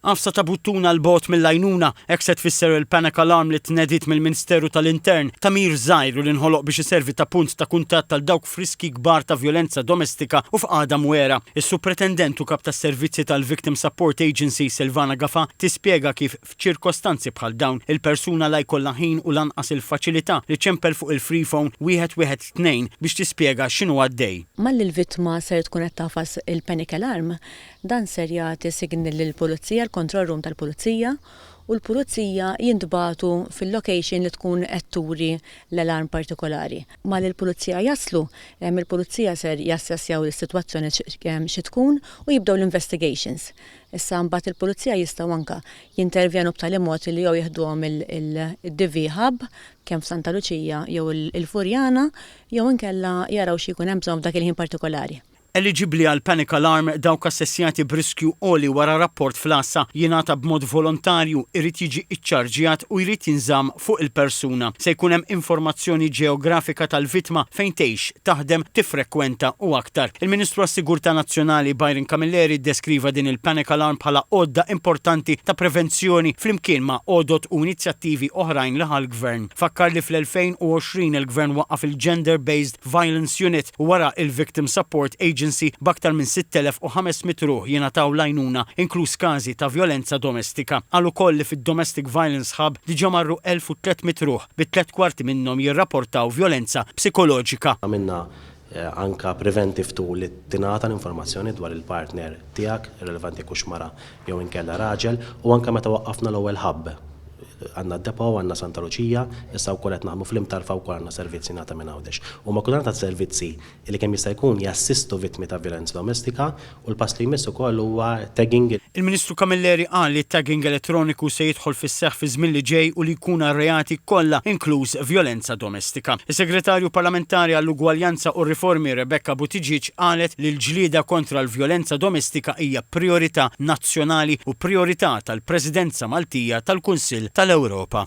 Għafsa ta' buttuna 'l bogħod mill-għajnuna, hekk se tfisser il-panic alarm li tnediet mill-Minsteru tal-Intern, tagħmir żgħir u li nħoloq biex iservi ta' punt ta' kuntatt għal dawk f'riskji kbar ta' vjolenza domestika u f'qagħda mwegħra. Is-Supretendent u Kap tas-Servizzi tal-Victim Support Agency, Silvana Gafa, tispjega kif f'ċirkostanzi bħal dawn, il-persuna la jkollha ħin u lanqas il-faċilità li ċempel fuq il-free phone 112 biex tispjega x'inhu għaddej. Malli l-vittma ser tkun qed tagħfas il-panic alarm, Dan ser jagħti signal lill-Pulizija, l-control room tal-Pulizija, u l-Pulizija jintbagħtu fil-location li tkun qed turi l-alarm partikolari. Malli l-Pulizija jaslu, il-Pulizija ser jassessjaw is-sitwazzjoni xi tkun u jibdew l-investigations. Issa mbagħad il-Pulizija jistgħu anke jintervjenu b'tali mod li jew jiħduhom il-DV Hub, kemm f'Santa Luċija jew il-Furjana, jew inkella jaraw xi jkun hemm bżonn f'dak il-ħin partikolari. Eliġibbli għal Panic Alarm dawk assessjati b'riskju għoli wara rapport fl-għassa. Jingħata b'mod volontarju, irid jiġi ċċarġjat u jrid jinżamm fuq il-persuna. Se jkun hemm informazzjoni ġeografika tal-vittma, fejn tgħix, taħdem, tiffrekwenta u aktar. Il-Ministru għas-Sigurtà Nazzjonali Byron Camilleri ddeskriva din il-Panic Alarm bħala għodda importanti ta' prevenzjoni flimkien ma' għodod u inizjattivi oħrajn li ħa l-Gvern. Fakkar li fl-2020 il-Gvern waqqaf il-Gender Based Violence Unit u wara il-Victim Support Agency b'aktar minn 6,500 ruħ jingħataw l-għajnuna inkluż każi ta' vjolenza domestika. Qal ukoll li fid-Domestic Violence Hub diġa marru 1,300 ruħ bi tliet kwarti minnhom jirraportaw vjolenza psikoloġika. Għamilna anka preventive tool li tingħata l-informazzjoni dwar il-partner tiegħek, irrelevanti jekk hux mara jew inkella raġel, u anke meta waqqafna l-ewwel hub. Għandna d-depot, għandna Santa Luċija, issa wkoll qed naħdmu fl-Imtarfa wkoll għandna servizz jingħata minn Għawdex. Huma kull data servizzi li kemm jista' jkun jassistu vittmi ta' vjolenza domestika u l-pass li jmiss ukoll huwa tagging. Il-Ministru Camilleri qal li t-tagging elettroniku se jidħol fis-seħħ fiż-żmien li ġej u li jkun għar-reati kollha inkluż vjolenza domestika. domestika. Is-Segretarju Parlamentari għall-Ugwaljanza u r-Riformi Rebecca Buttigieg qalet li l-ġlieda kontra l-vjolenza domestika hija prijorità nazzjonali u prijorità tal-Presidenza Maltija tal-Kunsill tal-Ewropa.